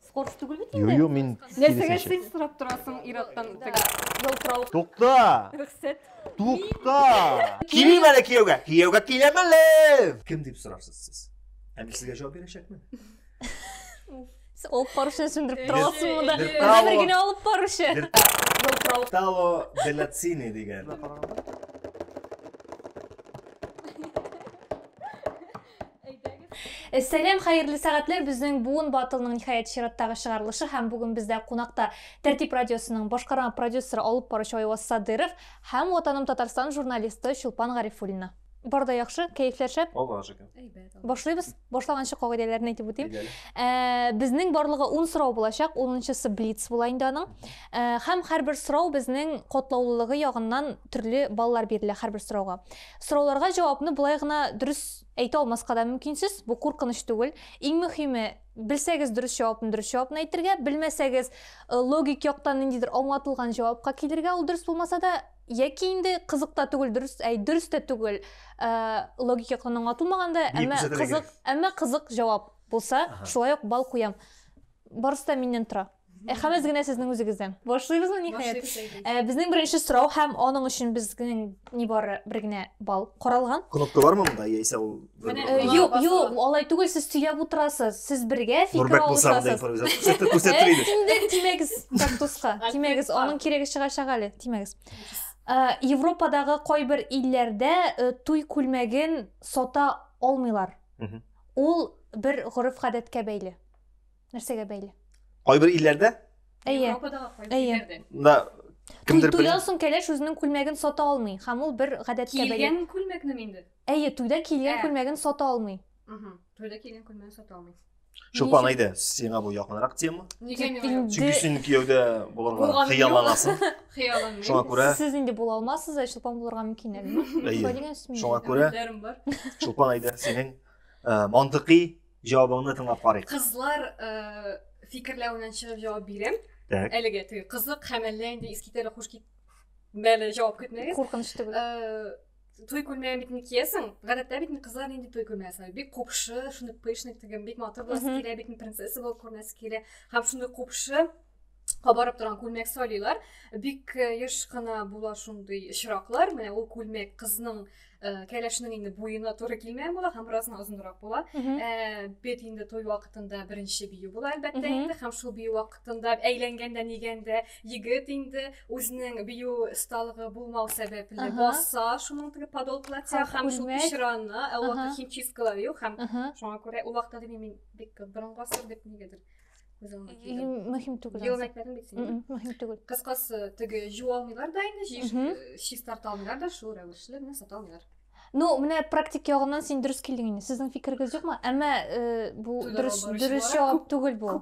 Скорс түгел бит инде. Юю мин Нәрсәгә син сорап торасың ираттан теге ялтырау. Тукта! Рөхсәт. Тукта! Килим әле кияүгә. Кияүгә киләм әле. Кем дип сорарсыз сез? Ә мин сезгә җавап бирәчәкмен. Алып баручыны сүндереп тора аласыңмы да? Бер генә алып баручы. Ялтырау. Таво Белацини дигән. Сәлам, хәерле сәгатьләр. Безнең Буын Батылның ниһаять чираттагы чыгарылышы һәм бүген бездә кунакта Тәртип радиосының башкарма продюсеры алып баручы Айваз Садыров һәм Ватаным Татарстан журналисты Чулпан Гарифуллина. Бар да яхшы, кәефләр шәп. Аллаһ шөкер. Башлыйбыз. Башлаганчы кагыйдәләрне әйтеп үтим. Ә, безнең барлыгы 10 сорау булачак. 10-нчысы блиц була инде аның. Ә, һәм һәрбер сорау безнең котлаулылыгы ягыннан төрле баллар бирелә һәрбер сорауга. Сорауларга җавапны болай гына дөрес әйтә алмаска да мөмкинсез, бу куркыныч түгел. Иң мөһиме, белсәгез дөрес җавапны дөрес җавапны әйтергә, белмәсәгез э, логик яктан ниндидер аңлатылган җавапка килергә, ул дөрес булмаса да, яки инде кызык та түгел, дөрес, әй, дөрес тә түгел, э, логик яктан аңлатылмаган да, әмма кызык, әмма кызык җавап булса, шулай ук бал куям. Барысы да миннән тора. Ә хәмез генә сезнең үзегездән. Башлыйбызмы ниһаять? Ә, безнең беренче сорау һәм аның өчен безнең нибары бер генә балл каралган. Кнопка бармы монда, яисә ул Менә. Э, Бар, Юк, бар, юк, бар. алай түгел, сез сөйләп утырасыз. Сез бергә фикер Нурбәк булса монда алышасыз. импровизация күрсәтте, Ә, күрсәттер иде. син дә тимәгез кактуска. Альберт Тимәгез, бар. аның кирәге чыгачак әле, тимәгез. Ә, Европадагы кайбер илләрдә э, туй күлмәген сата алмыйлар. Мгм. Ул бер гореф-гадәткә бәйле. Нәрсәгә бәйле? Кайбер илләрдә? Әйе. Әйе. Да. Кемдер бер. Туйдан соң кәләш үзенең күлмәген сата алмый, һәм ул бер гадәткә бәйле. Килгән күлмәкне инде. Әйе, туйда килгән күлмәген сата алмый. Угу. Туйда килгән күлмәген сата алмый. Чулпан әйдә, сиңа бу якынрак тема. Нигә миңа? Чөнки син кияүдә булырга хыялланасың. Хыялланмыйм. Шуңа күрә Сез инде була алмассыз, ә Чулпан булырга мөмкин әле. Әйе. Шуңа күрә Чулпан әйдә, синең мантыйкый җавабыңны тыңлап карыйк кызлар э, фикерләвеннән чыгып җавап бирәм так әлегә теге кызык һәм әллә инде искитәле хуш китмәле җавап көтмәгез куркыныч түгел э, той күлмәген бит инде киясең гадәттә бит кызлар нинди той күлмәге сайлый бик купшы шундый пышный тегем бик матур буласы килә бит принцесса булып күренәсе килә һәм шундый купшы кабарып торган күлмәк сайлыйлар бик э, еш кына була шундый очраклар менә ул күлмәк кызның э, кәләшнең инде буена туры килмәгән була һәм бераз озынрак була э, бит инде туй вакытында беренче бию була әлбәттә инде һәм шул бию вакытында әйләнгәндә нигәндә егет инде үзенең бию осталыгы булмау сәбәпле баса шуның теге подол платья һәм шул пишраны ә ул вакыт химчисткалар юк һәм шуңа күрә ул вакытта мин бик борынгы гасыр дип нигәдер мөһим түгел елын айтпадың бит сен мөһим түгел кыскасы теге жуу алмыйлар да инде шиш тарта алмыйлар да шул рәвешле генә сата алмыйлар ну менә практик ягыннан син дөрес килдең инде сезнең фикерегез юкмы әмма э, бу дөрес дөрес җавап түгел бу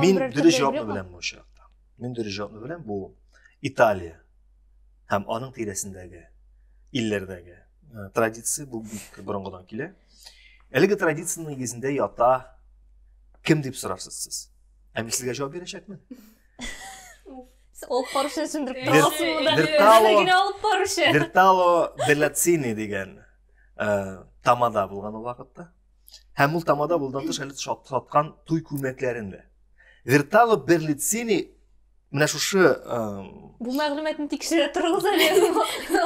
мин дөрес җавапны беләм бу очракта мин дөрес җавапны беләм бу италия һәм аның тирәсендәге илләрдәге э, традиция бу бик борынгыдан килә әлеге традиция нигезендә ята кем дип сорарсыз сез ә мин сезгә җавап бирәчәкмен ул парышны сүндереп берлацини дигән э, тамада булган ул вакытта Һәм ул тамада булдан тыш әле саткан туй күлмәкләрен дә. Вертало Берлицини менә шушы бу мәгълүматны тикшерә торыгыз әле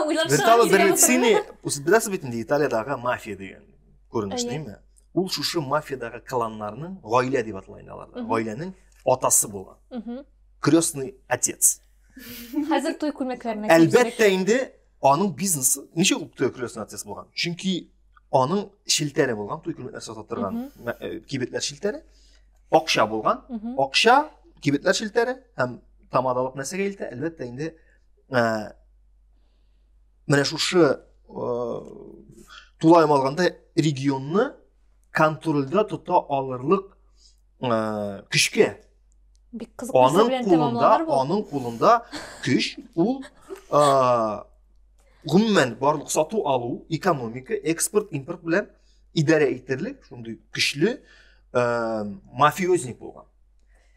уйлап Вертало Берлицини беләсез бит инде Италиядагы мафия дигән күренеш димме? Ул шушы мафиядагы кланнарның гаилә дип атала инде аларда. Гаиләнең атасы булган. Крестный отец. Хәзер туй күлмәкләренә Әлбәттә инде Аның бизнесы ничә ул той күрәсен артист булган? Чөнки аның шелтәре булган, той күрәсен сатып торган э, кибетләр шелтәре. Акча булган, акча, кибетләр шелтәре һәм тамадалык нәрсәгә илтә? Әлбәттә инде ә, э, менә шушы ә, э, тулаем алганда регионны контрольдә тота алырлык ә, көчкә бик кызык нәрсә белән тәмамланыр бу аның кулында көч ул ә, гомумән барлык сату алу экономика экспорт импорт белән идарә итерлек шундый көчле ә, мафиозник булган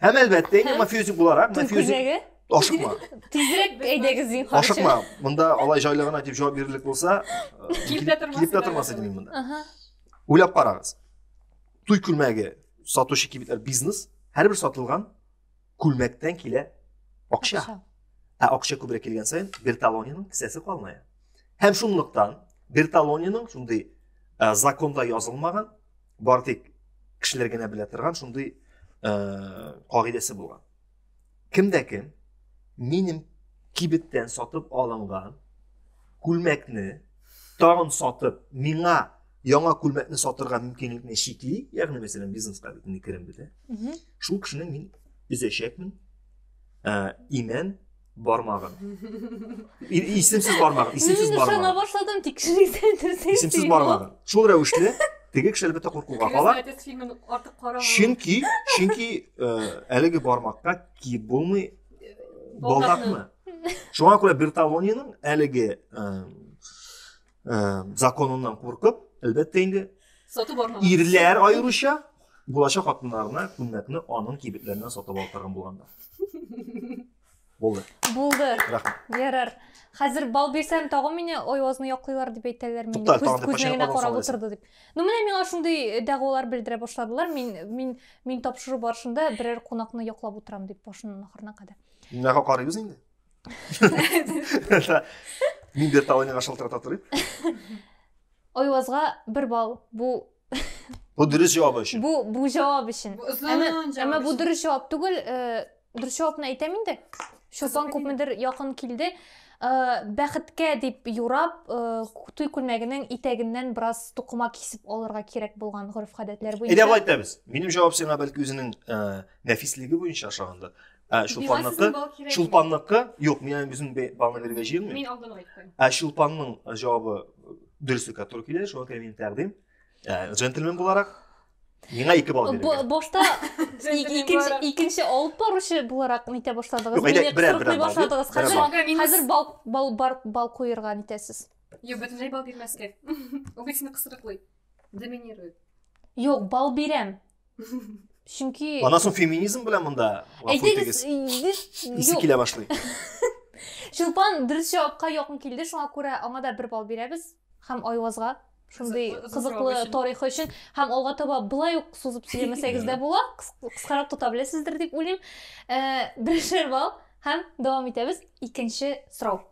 һәм әлбәттә инде мафиозник буларак мафиозник ашыкма тизрәк әйдәгез дин ашыкма монда алай жайлы гына дип җавап бирерлек булса килеп тә тормас идем мин монда уйлап карагыз туй күлмәге сатучы кибетләр бизнес һәрбер сатылган күлмәктән килә акча ә акча күбрәк килгән саен берталониның кесәсе калмая һәм шунлыктан берталониның шундый ә, законда язылмаган бары тик кешеләр генә белә торган шундый ә, кагыйдәсе булган Кем дә кем минем кибеттән сатып алынган күлмәкне тагын сатып, миңа яңа күлмәкне сатырга мөмкинлекне чикли, ягъни мәсәлән бизнеска бит инде керем бит, ә? Шул кешене мин өзәчәкмен. Ә, имән Бармагын. Исемсез бармагын, исемсез бармагын. Мин ышана башладым, тик шунысы Исемсез бармагын. Шул рәвешле теге кеше әлбәттә куркуга кала. Чөнки, чөнки э, әлеге бармакка киеп булмый э, балдакны. Шуңа күрә Берталониның әлеге э, ә, законыннан куркып әлбәттә инде сатып алган ирләр аеруча булачак хатыннарына күлмәкне аның кибетләреннән сатып алдырган булганда булды булды рәхмәт ярар хәзер бал бирсәм тагын мине оязны яклыйлар дип әйтәләр мин күзмәгенә карап утырды дип ну менә миңа шундый э, дәгъвалар белдерә башладылар мин мин мин тапшыру барышында берәр кунакны яклап утырам дип башыннан ахырына кадәр менә карыйбыз инде Мин бер тавыйныга шалтырата торыйм. Ойвазга бер бал. Бу Бу дөрес җавабы өчен. Бу бу җавап өчен. Әмма бу дөрес җавап түгел. Э, дөрес җавапны әйтәм инде. Шулпан күпмедер якын килде. Э, бәхеткә дип юрап, э, туй күлмәгенең итәгеннән бераз тукыма кисеп алырга кирәк булган гореф-гадәтләр буенча. Әйдә, әйтәбез. Минем җавап сиңа бәлки үзенең нәфислеге буенча ашаганда, Ә Чулпанныкы, Чулпанныкы, юк, мин үзем балны бирергә җыенмыйм. Мин алдан айттым. Ә Чулпанның җавабы дөреслеккә туры килә, шуңа күрә мин тәкъдим. Ә джентльмен буларак миңа ике балл бирергә. Башта икенче икенче алып баручы буларак нитә башладыгыз? Мине кырыклый башладыгыз. Хәзер хәзер бал бал бал куерга нитәсез? Юк, бөтенләй балл бирмәскә. Үгезне кысрыклый. Доминирует. Юк, бал бирәм. Чөнки Ана соң феминизм белән монда Әйтегез, исе килә башлый. Чулпан дөрес җавапка якын килде, шуңа күрә аңа да бер бал бирәбез һәм Айвазга шундый кызыклы тарихы өчен һәм алга таба былай ук сузып сөйләмәсәгез дә була кыскарак тота беләсездер дип уйлыйм э, берешер бал һәм дәвам итәбез икенче сорау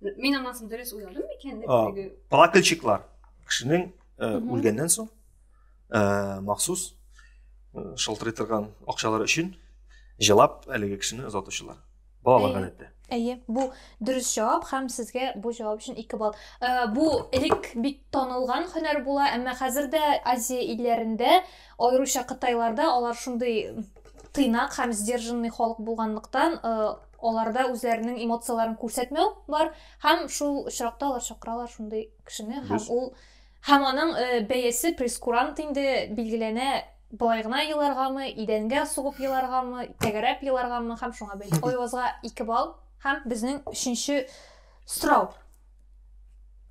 Мин аннан соң дөрес уйладым микән дип теге. Плакальщиклар кешенең үлгәннән соң махсус шылтырый торган акчалар өчен җылап әлеге кешене озатучылар. Балалар гадәттә. Әйе, бу дөрес җавап һәм сезгә бу җавап өчен 2 балл. Бу элек бик танылган һөнәр була, әмма хәзер дә Азия илләрендә, аеруча Кытайларда алар шундый тыйнак һәм сдержанный халык булганлыктан, аларда үзләренең эмоцияләрен күрсәтмәү бар һәм шул очракта алар чакыралар шундый кешене һәм ул һәм аның э, бәясе прескурант инде билгеләнә болай гына еларгамы идәнгә сугып еларгамы тәгәрәп еларгамы һәм шуңа бәйле оязга ике балл һәм безнең өченче сорау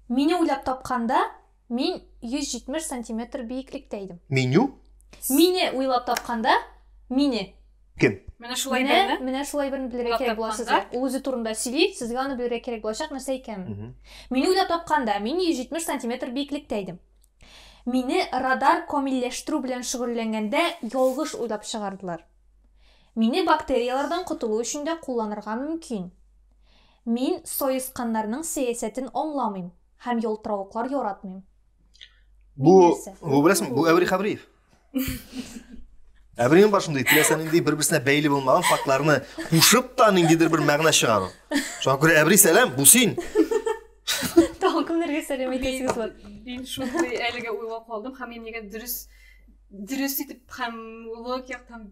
мине уйлап тапканда Мин 170 сантиметр биеклектә идем. Меню? Мине уйлап тапканда, мине. Кем? Менә шулай Менә, берне. менә шулай берне белергә Уйлап кирәк була тапканда. сезгә. Ул үзе турында сөйли, сезгә аны белергә кирәк булачак нәрсә икәнен. Мгм. Мине уйлап тапканда, мин 170 сантиметр биеклектә идем. Мине радар камилләштерү белән шөгыльләнгәндә ялгыш уйлап чыгардылар. Мине бактерияләрдән котылу өчен дә кулланырга мөмкин. Мин саесканнарның сәясәтен аңламыйм. Һәм ялтыравыклар яратмыйм. Бу, бу беләсең, бу Әбри Хабриев. Әбри бар шундый, теләсә нинди бер-берсенә бәйле булмаган фактларны кушып та ниндидер бер мәгънә чыгару. Шуңа күрә Әбри сәлам, бу син. Тагын кемнәргә сәлам әйтәсегез бар? Мин шундый әлегә уйлап калдым һәм мин нигә дөрес дөрес итеп һәм логик яктан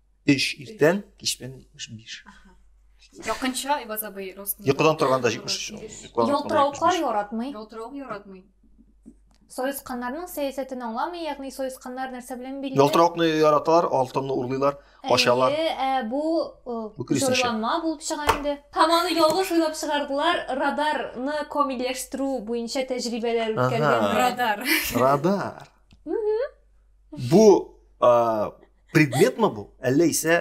Өч иртән, кич белән җитмеш биш. Якынча Айбаз абый ростын. Йокыдан торганда җитмеш өч. Ялтыравыклар яратмый. Ялтыравык яратмый. Саесканнарның сәясәтен аңламый, ягъни саесканнар нәрсә белән били? Ялтыравыкны яраталар, алтынны урлыйлар, ачалар. Ә бу зурланма булып чыга инде. Һәм аны ялгыш уйлап чыгардылар, радарны комиләштерү буенча тәҗрибәләр үткәргән радар. Радар. Бу предмет ма бу әллә исә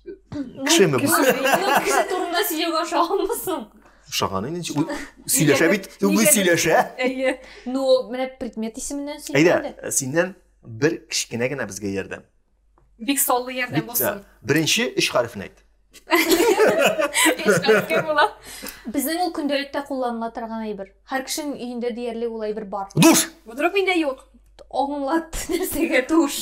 кешеме бу кеше турында сөйләүгә ошаганмы соң ошаган инде сөйләшә бит үзе сөйләшә әйе ну менә предмет исеменнән сөйләде әйдә синнән бер кечкенә генә безгә ярдәм бик саллы ярдәм булсын беренче өч хәрефне әйт Эшкәрткә була. Безнең ул көндәлектә кулланыла торган әйбер. Һәр кешенең өендә диярлек ул әйбер бар. Душ! Вдруг миндә юк. Аңлат нәрсәгә душ.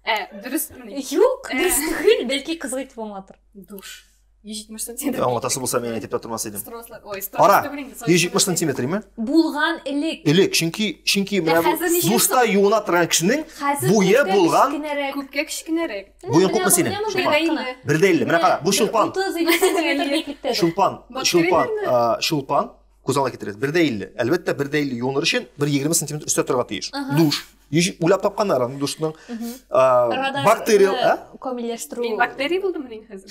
Ә, дөрес мени? Юк, э. дөрес түгел, бәлки кызык итеп аңлатыр. Душ. 170 сантиметр. Аңлатасы булса мин әйтеп тә тормас идем. Ой, Ара, 170 сантиметр име? Булган элек. Элек, чөнки чөнки менә бу душта юына торган кешенең буе булган күпкә кечкенәрәк. Буең күпме синең? Бер дә илле. Менә кара, бу чулпан. Чулпан, чулпан, чулпан. Күз алдына китерегез. Бер дә илле. Әлбәттә, бер дә илле юыныр өчен бер егерме сантиметр өстә торырга тиеш. Душ. Уйлап тапканнар аны душның. Бактерия. Камилләштерү. Мин бактерия булдым мин хәзер.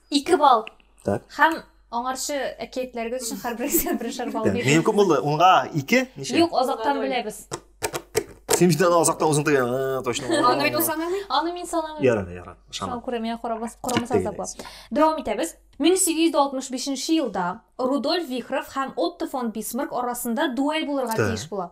Ике балл. Так. Һәм аңарчы әкиятләрегез өчен һәрберегезгә берешер балл Тәм. Минем бирдем. күп булды. Унга ике, ничә? Юк, азактан беләбез. Син бит аны азакта үзең тыгы, ә, точно. Аны бит ул санамый. Аны мин санамыйм. Яра, яра. Шама. Шау күрә, миңа карамас, карамас Тегеләйсең. азаплап. Дәвам итәбез. 1865 елда Рудольф Вихров һәм Отто фон Бисмарк арасында дуэль булырга Так. тиеш була.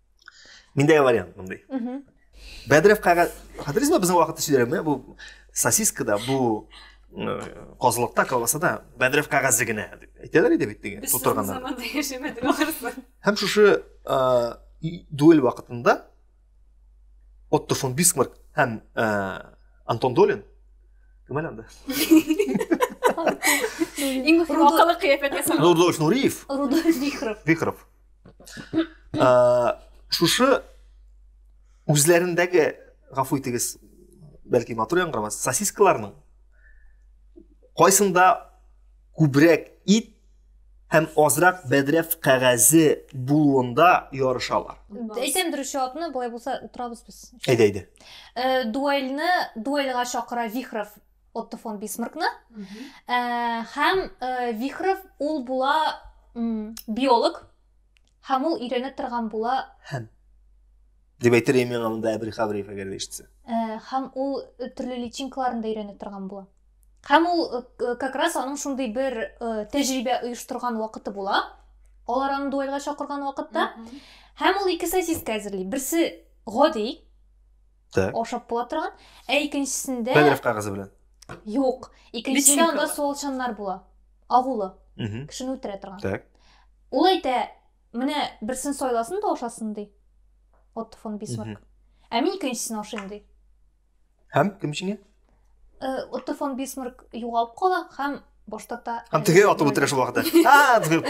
Миндә вариант мондый. Бәдрәф кага хәтерсезме безнең вакытта сөйләгәнме бу сосискада бу козлыкта колбасада бәдрәф кәгазе генә дип әйтәләр иде бит теге тутырганнар. Без заманда яшәмәдек ахырсы. Һәм шушы дуэль вакытында Отто фон Бисмарк һәм Антон Долин кем әле анда? Иң мөһим акыллы кыяфәт ясаган. Рудольф Нуриев. Рудольф Вихров. Вихров. шушы үзләрендәге гафу итегез бәлки матур яңгырамас сосискаларның кайсында күбрәк ит һәм азрак бәдрәф кәгазе булуында ярышалар. Әйтәм дөрес җавапны, болай булса утырабыз без. Әйдә, әйдә. Э, дуэльне дуэльга чакыра Вихров Отто фон Бисмаркны. Э, һәм э, Вихров ул була биолог һәм ул өйрәнә торган була һәм дип әйтер идем миңа монда Әбил Хавриев әгәр ишетсә. Э, һәм ул төрле личинкаларын да өйрәнә торган була. Һәм ул как раз аның шундый бер тәҗрибә оештырган вакыты була. Алар аны дуэльгә чакырган вакытта. Һәм ул ике сосиска әзерли. Берсе гади, Так. ашап була торган. Ә икенчесендә Бәдрәф кагызе белән. юк. Икенчесендә Личинка анда бар. суалчаннар була. Агулы, Мгм. кешене үтерә торган. Так. Ул әйтә, менә берсен сайласын да ашасын ди. Отто фон Бисмарк. Мгм. Ә мин икенчесен ашыйм ди. Һәм кем җиңә? Э, Отто фон Бисмарк югалып кала һәм баш тарта. Һәм теге атып үтерә шул вакытта. А, дип.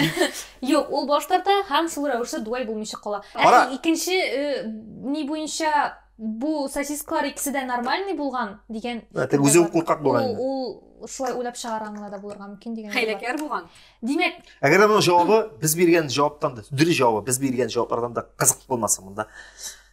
Юк, ул баш тарта һәм шул рәвешле дуэль булмыйча кала. Ә икенче э, ни буенча бу сосискалар икесе дә нормальный булган дигән. Әтә үзе куркак булган. Ул шулай уйлап чыгарганлар да булырга мөмкин дигән. Хәйләкәр булган. Димәк, әгәр аның җавабы без биргән җаваптан да, дөрес җавабы без биргән җаваплардан да кызык булмаса монда.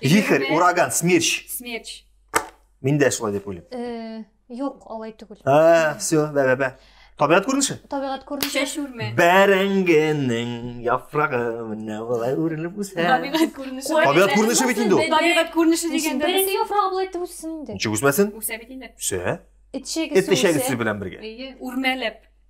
Вихрь, ураган, смерч. Смерч. Мин дә шулай дип уйлыйм. Э, юк, алай түгел. А, все, бә бә бә. Табигать күренеше? Табигать күренеше. Чәч үрмә. Бәрәңгенең яфрагы менә болай үрелеп үсә. Табигать күренеше. Табигать күренеше бит инде ул. Табигать күренеше дигәндә. Бәрәңге яфрагы болай итеп үссен инде. Ничек үсмәсен? Үсә бит инде. Үсә. Эт чәгесе. Эт чәгесе белән бергә. Әйе, үрмәләп.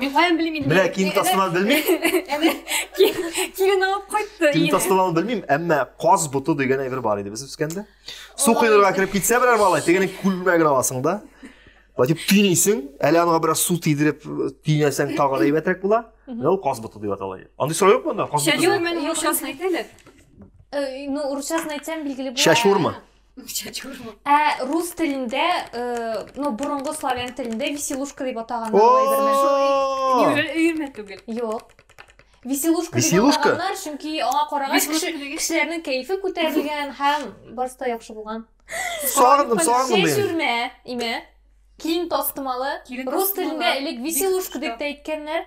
Мин каян белим инде? Менә киң тастымал белмим. Әнә килен алып кайтты. Киң тастымал белмим, әмма каз буты дигән әйбер бар иде без үскәндә. Су кыйнырга кереп китсә берәр малай, тегене күлмәген аласың да. Латип тинисең, әле аңа бераз су тидереп тинәсәң тагы да әйбәтрәк була. Менә ул каз буты дип атала. Андый сорау юк монда? Каз буты. Чәчүр мәнә юкчасын әйтәләр. Ну, урысчасын әйтсәм билгеле була. Чәчүрме? Ә рус телендә, э, ну, борынгы славян телендә веселушка дип атаганнар ул әйберне. О! Юләр өйрәнмә түгел. Юк. Веселушка дип Веселушка? атаганнар, чөнки аңа карагач Веселушка кеше- дигән- кешеләрнең кәефе күтәрелгән һәм барысы да яхшы булган. Сагындым, сагындым Чәч мин. үрмә, имә. Киң тастымалы. Килен Рус тастымалы. телендә элек веселушка дип тә әйткәннәр.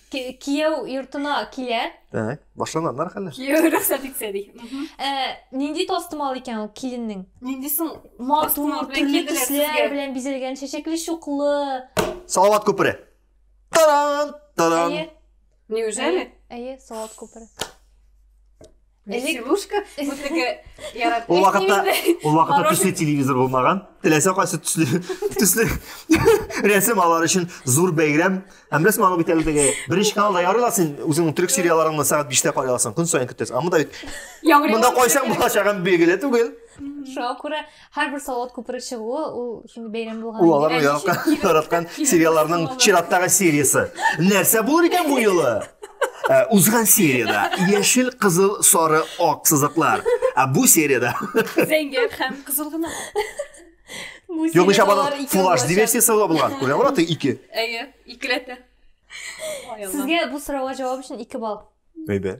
Ки- Кияү йортына килә. Так, башланганнар хәлләр. Кияү рөхсәт итсә ди. Мгм. Ә, нинди тастымал икән ул киленнең? Нинди соң? Матур, Тастымал белән төрле килделәр төсләр сезгә. белән бизәлгән, чәчәкле чуклы. Салават күпере. Таран! Таран! Әйе, Неужели? әйе, салат күпере. Веселушка, бу теге ярат. Ул вакытта, ул вакытта төсле телевизор булмаган. Теләсә кайсы төсле, төсле рәсем алар өчен зур бәйрәм. Һәм рәсем алып бит әле теге беренче каналда ярый ла син үзеңнең төрек сериаларыңны сәгать 5-тә карый аласың. Көн саен көтәсең. Ә монда бит монда кайсаң булачагы билгеле түгел. Шуңа күрә һәрбер салат күпере чыгуы ул шундый бәйрәм булган ул алар яраткан тараткан сериалларның чираттагы сериясе нәрсә булыр икән бу юлы э, узган серияда яшел кызыл сары ак сызыклар ә бу серияда зәңгәр һәм кызыл гына юк ничә бала фулаш диверсиясы була булган күрә бала ты ике әйе икеләтә сезгә бу сорауга җавап өчен ике балл әйдә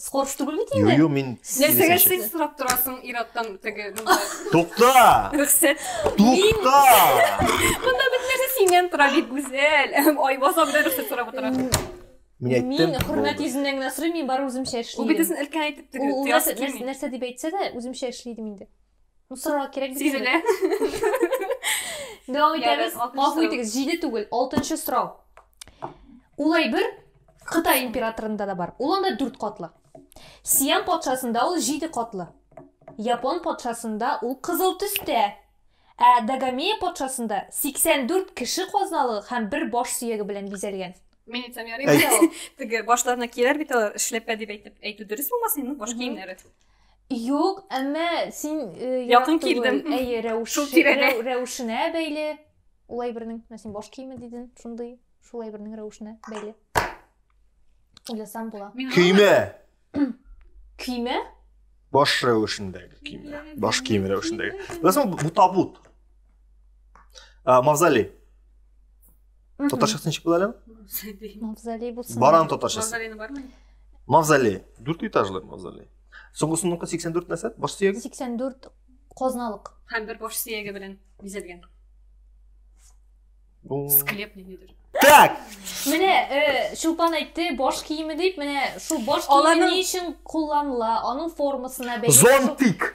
Скорб түгел бит инде. Юю мин Нәрсәгә секс сорап торасың ир-аттан теге монда? Тукта! Рөхсәт. Тукта! Монда бит нәрсә синнән тора бит гүзәл. Айбазан да рөхсәт сорап утыра. Мин әйттем. Мин хөрмәт йөзеннән генә сорыйм, мин бары үземчә эшлим. Ул бит үзен өлкән әйтеп теге. Ул нәрсә дип әйтсә дә, үземчә эшлидем инде. Ну, сорарга кирәк бит. Сизелә. Дәвам итәбез. Гафу итегез, җиде түгел, алтынчы сорау. Ул әйбер Кытай императорында да бар. Ул анда дүрт катлы. Сиам патшасында ул җиде катлы. Япон патшасында ул кызыл төстә. Ә Дагомея патшасында 84 кеше казналыгы һәм бер баш сөяге белән бизәлгән. Мин әйтсәм ярый. Теге башларына киерәр бит алар, эшләпә дип әйтеп әйтү дөрес булмасын, ну баш киемнәре. Юк, әмма син э, Якын ярак түгел. килдем. Әйе, рәвеш, Шул тирәдә. рәв- рәвешенә бәйле. Ул әйбернең, менә син баш киеме дидең, шундый, шул әйбернең рәвешенә бәйле. Уйласам була. Мин Көймә! Көймә? Баш рәвешендәге көймә. Баш киеме рәвешендәге. Беләсеңме, бу табут. А, мавзолей. Татарча ничек була әле? Мавзолей булсын. Баран татарчасы. Мавзолейны бармы? Мавзолей. Дүрт этажлы мавзолей. Соңгысыныкы 84 нәрсә? Баш сөяге? 84 казналык. Һәм бер баш сөяге белән бизәлгән. Склеп ниндидер. Так. Менә э, Чулпан әйтте, баш киеме дип, менә шул баш киеме ни өчен кулланыла? Аның формасына бәйле. Зонтик.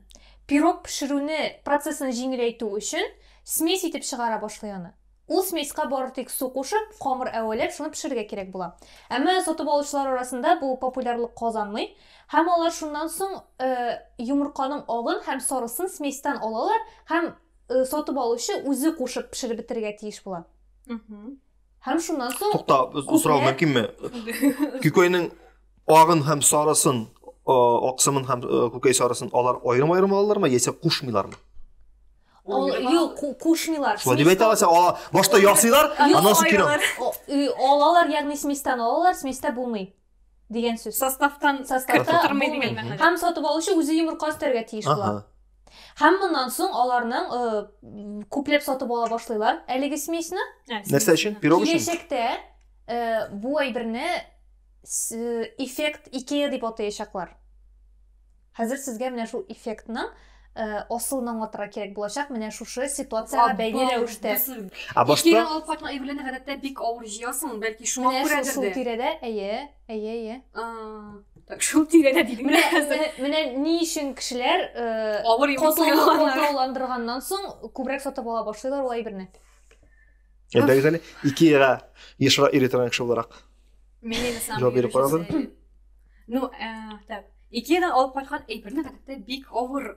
Пирог пешерүне процессын җиңеләйтү өчен смесь итеп чыгара башлый аны. Ул смеска бары тик су кушып, камыр әвәләп, шуны пешерергә кирәк була. Әмма сатып алучылар арасында бу популярлык казанмый, һәм алар шуннан соң йомырканың агын һәм сарысын сместьтан алалар һәм сатып алучы үзе кушып пешереп бетерергә тиеш була. Һәм шуннан соң Тукта, сорау мөмкинме? Күкәйнең агын һәм сарысын, аксымын һәм күкәй сарысын алар аерым-аерым алалармы яисә кушмыйлармы? Юк, кушмыйлар. Шулай дип әйтә аласың, ала. Башта ясыйлар, аннан соң кире. Алалар, ягъни сместән алалар, сместә булмый. дигән сүз. Составтан составта тормый дигән мәгънә. Һәм сатып алучы үзе йомырка өстәргә тиеш була. Һәм моннан соң аларның э, күпләп сатып ала башлыйлар әлеге смесьны. Ә, Нәрсә өчен? Пирог өчен? Киләчәктә э, бу әйберне эффект Икея дип атаячаклар. Хәзер сезгә менә шул эффектның асылын аңлатырга кирәк булачак, менә шушы ситуациягә бәйле рәвештә. Ә башта Икегә алып кайтма әйберләрне гадәттә бик авыр җыясың, бәлки шуңа Менә күрәдер шул дә. тирәдә, әйе, әйе, әйе. А, Так, шул тирәдә дидем Менә, менә, менә ни өчен кешеләр э, Авыр юл катлау- сайлаганнар. катлауландырганнан соң күбрәк сатып ала башлыйлар ул әйберне. Әйдәгез әле Икеяга ешрак йөри торган кеше буларак. Мен енді сам Жауап беріп қарап жүр. Ну, ә, так. Икедан алып кайткан әйберне хәтта бик авыр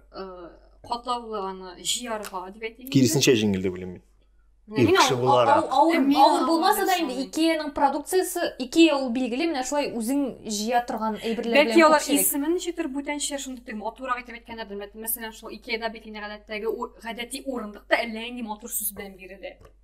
катлаулы аны җыярга дип әйтелгән. Киресенчә җиңел дип беләм мин. Ир кеше буларак. Авыр булмаса да инде Икеяның продукциясе, Икея ул билгеле, менә шулай үзең җыя торган әйберләр белән Бәлки алар исемен ничектер бүтәнчә шундый дип матурак итеп әйткәннәрдер. Мәсәлән, шул Икеяда бит инде гадәттәге гадәти урындык та әллә нинди матур сүз белән бирелә.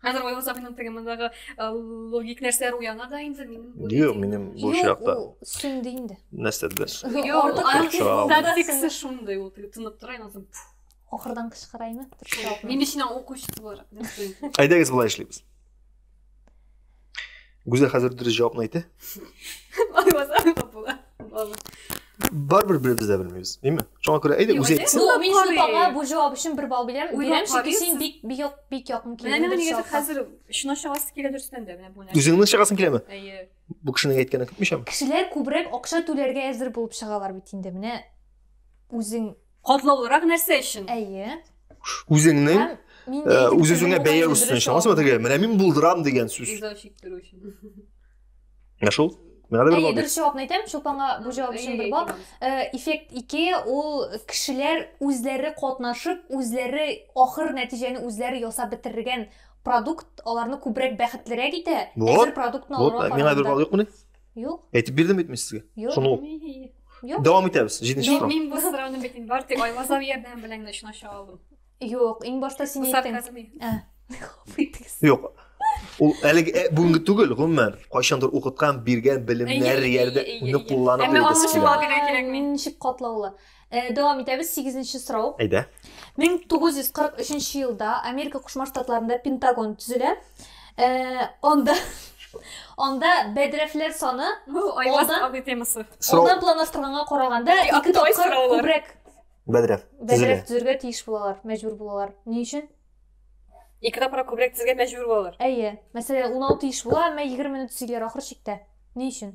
Хәзер Ояз абыйның теге мондагы э, логик нәрсәләр уяна да инде минем. Юк, минем бу очракта. Сүнде инде. Нәрсәдер. Юк, статиксы шундый ул тынып тора инде. Ахырдан кычкыраймы? Мин өчен укучы буларак. Әйдәгез болай эшлибез. Гүзәл хәзер дөрес җавапны әйтә. Алмасам да була. Барбер бер без дә белмибез, димме? Шуңа күрә әйдә үзе әйтсен. Ну, мин шул таңга бу җавап өчен бер балл бирәм. Бирәм, чөнки син бик бик як бик якын килдең. Менә мин әйтәм, хәзер шуна чыгасы килә дөрестән дә, менә бу нәрсә. Үзеңнең чыгасың киләме? Әйе. Бу кешенең әйткәнен көтмичәм. Кешеләр күбрәк акча түләргә әзер булып чыгалар бит инде. Менә үзең Катлаулырак нәрсә өчен? Әйе. Үзеңнең үз-үзеңә бәя өстен өчен. Аңласызмы теге? Менә мин булдырам дигән сүз. Иза чиктерү өчен. Менә шул. Менә бер бал. Дөрес җавапны әйтәм, Чулпанга бу җавап өчен бер бал. Эффект 2 ул кешеләр үзләре катнашып, үзләре ахыр нәтиҗәне үзләре ясап бетергән продукт аларны күбрәк бәхетлерәк итә. Әзер продуктны алырга караганда. Миңа бер бал юкмыни? Юк. Әйтеп бирдем бит мин сезгә. Юк. Шуны ук. Юк. Дәвам итәбез. Җиденче Мин, сорау. мин бу сорауны бит инде бары тик Айлаза ярдәме белән генә өчен аша алдым. Юк, иң башта син Бу әйттең. сарказм иде. Ә. Кыйтыгыз. Юк. Ул әлеге ә, бүгенге түгел, гомумән, кайчандыр укыткан, биргән белемнәр Әйе, әйе, ярдәм әйе, әйе. кулланып Әмма йөрдегез. аңлашып килә. алган. Кирәк, кирәкми. Ничек катлаулы. Э, дәвам итәбез, сигезенче сорау. Әйдә. 1943 елда Америка Кушма Штатларында Пентагон төзелә. Э, анда Анда бәдрәфләр саны айваздан абый темасы. Ондан планлаштырганга караганда ике тапкыр күбрәк бәдрәф бәдрәф төзергә тиеш булалар, мәҗбүр булалар. Ни өчен? Ике тапкыр күбрәк төзергә мәҗбүр булалар. Әйе. Мәсәлән, 16 еш була, әмма 20 минут төзиләр ахыр чиктә. Ни өчен?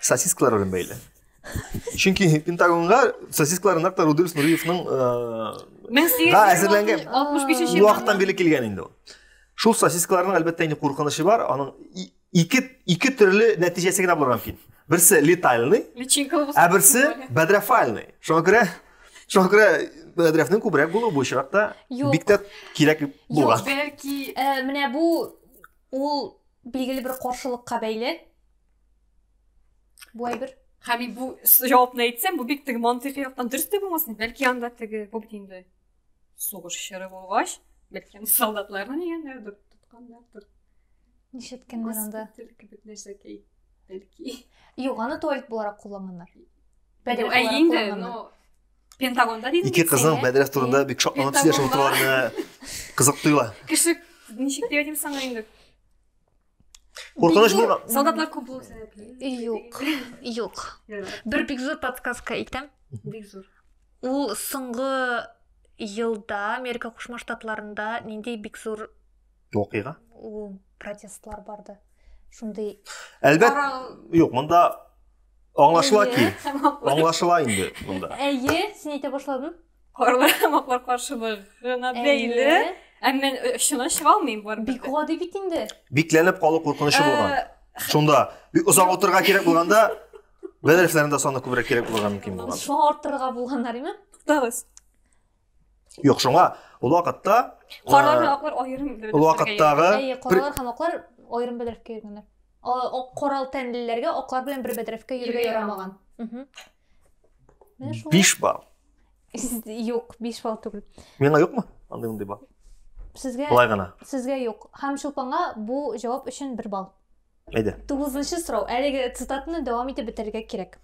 Сосискалар белән бәйле. Чөнки Пентагонга сосискалар нәкъ Рудольф Нуриевның да әзерләнгән 65 вакыттан бирле килгән инде ул. Шул сосискаларның әлбәттә инде куркынычы бар, аның ике ике төрле нәтиҗәсе генә булырга мөмкин. Берсе летальный, ә берсе бәдрафальный. Шуңа күрә шуңа күрә бәдрафның күбрәк булуы бу очракта бик тә кирәк булган. Бәлки менә бу ул билгеле бер каршылыкка бәйле. бу әйбер һәм мин бу җавапны әйтсәм бу бик теге мантыйкый яктан дөрес тә булмасын бәлки анда теге бу бит инде сугыш чоры булгач бәлки аны солдатларны дигәннәрдер тотканнардыр нишеткәннәр анда кебек нәрсә бәлки юк аны туалет буларак кулланганнар ә инде но пентагонда дейсің ике қыздың мәдрәс турында бик шатланып сөйләшеп отыруларына қызық тоела кеше ничек деп айтайын саңа инде Куркыныч булма. Солдатлар күп булу сәбәпле. Юк. Юк. Бер бик зур подсказка әйтәм. Бик зур. Ул соңгы елда Америка Кушма Штатларында нинди бик зур оқига? Ул протестлар барды. Шундый. Әлбәт. Юк, монда аңлашыла ки. Аңлашыла инде монда. Әйе, син әйтә башладың. Карлыгамаклар каршылыгына бәйле. Ә мен очына чыга алмыйм бар. Бик гади бит инде. Бикләнеп калу куркынычы булган. Шунда бик озак утырга кирәк булганда бәдәрефләрендә саны күбрәк кирәк булырга мөмкин булган. Шуңа арттырырга булганнар име? Туктагыз. Юк, шуңа ул вакытта Карлар һәм аклар аерым бәдәрефләргә. Ул вакыттагы Әйе, карлар һәм аклар аерым бәдәрефкә йөргәннәр. Ак корал тәнлеләргә аклар белән бер бәдрәфкә йөрергә ярамаган. Биш балл. Юк, биш балл түгел. Миңа юкмы? Андый мондый балл. Сезгә Былай гына. Сезгә юк. Һәм Чулпанга бу җавап өчен бер балл. Әйдә. Тугызынчы сорау. Әлеге цитатаны дәвам итеп бетерергә кирәк.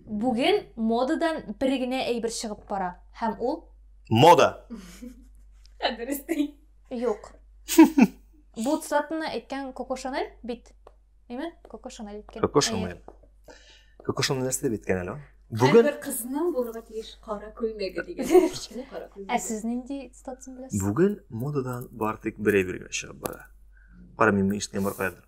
Бүген модадан бер генә әйбер чыгып бара, һәм ул Мода. Ә дөрес ди. Юк. Бу цитатаны әйткән Коко Шанель бит. Әйме? Коко Шанель әйткән. Коко Шанель. Коко Шанель нәрсә дип әйткән әле? Бүген бер кызның булырга тиеш кара күлмәге дигән. Ә сез нинди цитатаны беләсез? Бүген модадан бар тик бер әйбер генә чыгып бара. Кара мин ишеткән бар кайдыр.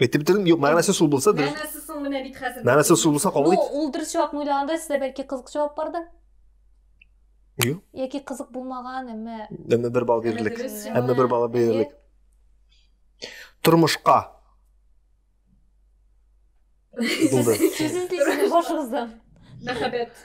әйтеп бетердем юк мәгънәсе сул булса дөрес мәгънәсе соң менә бит хәзер мәгънәсе сул булса кабул ит ну ул дөрес җавапны уйлаганда сездә бәлки кызык җавап бардыр юк яки кызык булмаган әмма әмма бер балл бирерлек әмма бер балл бирерлек тормышка булды сез эзлисез башыгыздан мәхәббәт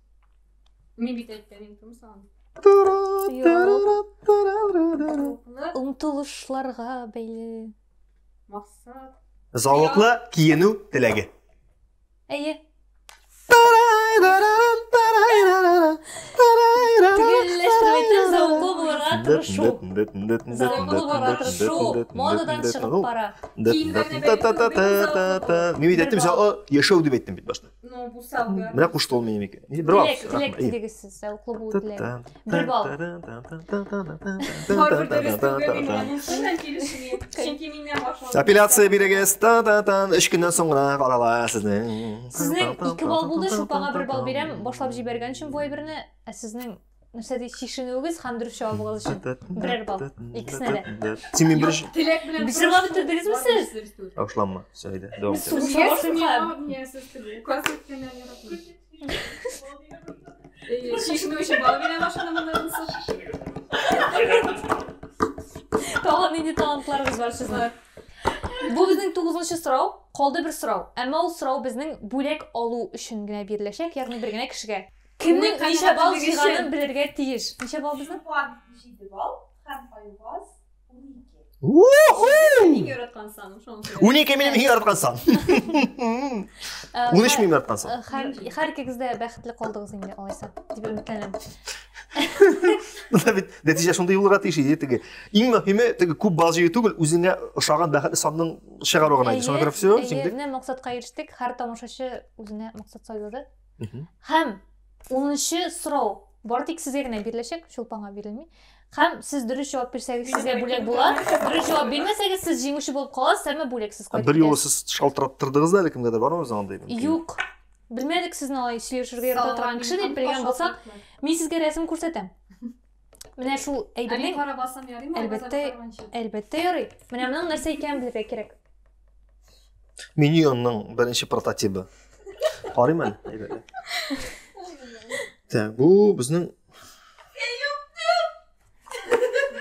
Мин бит әйткән инде кем сагын. Омтылышларга бәйле. Максат. Залыклы киенү теләге. Әйе. Мин бит әйттем, яшәү дип әйттем бит башта. Ну, бу самый. Менә кушты ул минем ике. Бер балл. Теләк, теләк дигез сез, зәвыклы булу теләк. Бер балл. Апелляция бирегез. Та-та-тан. Өч көннән соң гына карала сезнең. Сезнең ике балл булды, шулпага бер балл бирәм. Башлап җибәргән өчен бу әйберне, ә сезнең нәрсә ди чишенүегез һәм дөрес җавабыгыз өчен берәр балл икесенә дә син мин беренче теләк белән бер җавап бетердегезме сез ташланма все әйдә дәвам итә чишенү өчен балл бирә тагын нинди талантларыгыз бар сезнең бу безнең тугызынчы сорау калды бер сорау әмма ул сорау безнең бүләк алу өчен генә биреләчәк ягъни бер генә кешегә Кемнең ничә балл җыйганын белергә тиеш. Ничә балл безнең? Чулпан 7 балл һәм Айваз 12. Иң яраткан саным шуңа күрә. Унике минем иң яраткан сан. Унөч минем яраткан сан. Һәр икегез дә бәхетле калдыгыз инде алайса, дип өметләнәм. Монда бит нәтиҗә шундый булырга тиеш иде теге. Иң мөһиме теге күп балл җыю түгел, үзеңә ошаган бәхетле санның чыгару гына иде. Шуңа күрә все, җиңдек. Әйе, менә максатка ирештек. Һәр тамашачы үзенә максат сайлады. Һәм 10-нчы сорау бар тик сезгә генә биреләчәк, чулпанга бирелми. Һәм сез дөрес җавап бирсәгез, сезгә бүләк була. Дөрес җавап бирмәсәгез, сез җиңүче булып каласыз, әмма бүләксез кайтып Бер юлы сез шалтыраттырдыгыз да әле кемгәдер, бармы безнең андый? Юк. Белмәдек сезне алай сөйләшергә ярата торган кеше дип белгән булсак, мин сезгә рәсем күрсәтәм. Менә шул әйбернең Әлбәттә, басам ярыймы? Әлбәттә. әлбәттә ярый. Менә моның нәрсә икәнен белергә кирәк. Миньонның беренче прототибы. Карыйм әле. әйбәтләп. Так, бу безнең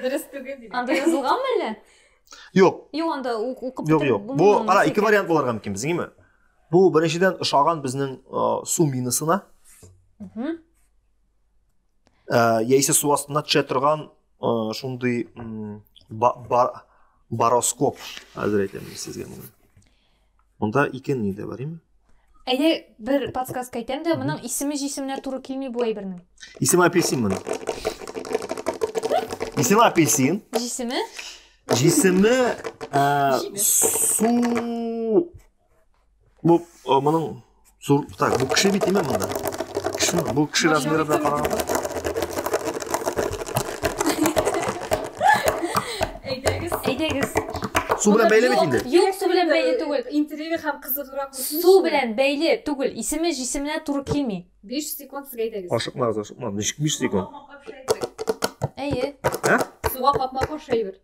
Дөрес түгел диде. Анда язылганмы әллә? Юк, Юк, анда у- укып юк, бетереп юк. Бу булмый, кара нәрсә ике икәнен. вариант булырга мөмкин безгеме? Бу беренчедән ошаган безнең э, су минасына. Мгм. ә, яисә су астына төшә торган ә, шундый ба, бар, бароскоп әзер әйтәм сезгә моны монда ике ни дә бар име әйдә бер подсказка әйтәм дә моның исеме җисеменә туры килми бу әйбернең исеме апельсин моның исеме апельсин җисеме җисеме ә, су Бу моның зур так, бу кеше бит имә монда. Кеше, бу кеше размеры белән караганда. Әйдәгез. Әйдәгез. Су белән бәйле бит инде. Юк, су белән бәйле түгел. Интервью һәм кызыграк. Су белән бәйле түгел. Исеме җисеменә туры килми. 5 секунд сезгә әйдәгез. Ашыкмагыз, ашыкмагыз. 5 секунд. Әйе. Ә? Суга капма кошайбер.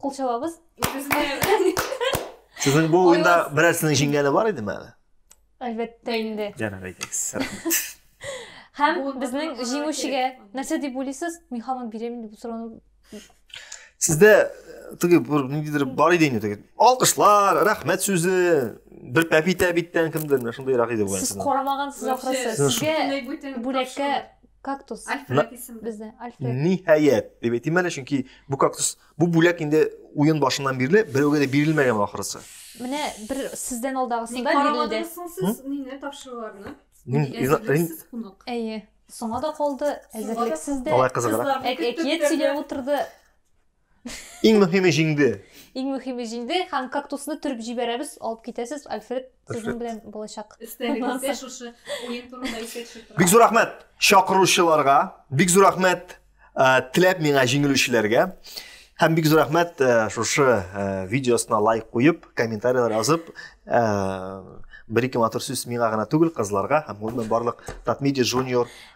Кул чабабыз. Сезнең бу уенда берәрсенең җиңгәне бар идеме әле? Әлбәттә инде. Җәнәр әйтегез. Һәм безнең җиңүчегә нәрсә дип уйлыйсыз? Мин һаман бирәм дип сорауны. Сездә э, теге бер ниндидер бар иде инде теге. Алкышлар, рәхмәт сүзе, бер пәпитә биттән кемдер, шундыйрак иде бу. Сез карамагансыз ахрысы. Сезгә бүләккә кактус альфред исемле бездә альфред ниһаять дип әйтим әле чөнки бу кактус бу бүләк инде уен башыннан бирле берәүгә дә бирелмәгән ахрысы менә бер сездән алдагысында бирелде сез мине тапшыруларны әйе соңа да калды әзерлексез дә алай кызыграк әкият сөйләп утырды Иң мөһиме җиңде. Иң мөһиме җиңде һәм кактусны төреп җибәрәбез, алып китәсез, Альфред сезнең белән булачак. Өстәлегездә шушы уен турында искә төшеп тора. Бик зур рәхмәт чакыручыларга, бик зур рәхмәт э, теләп миңа җиңелүчеләргә. Һәм бик зур рәхмәт э, шушы э, видеосына лайк куеп, комментарийлар язып, бер-ике матур сүз миңа гына түгел, кызларга һәм гомумән барлык Татмедиа Junior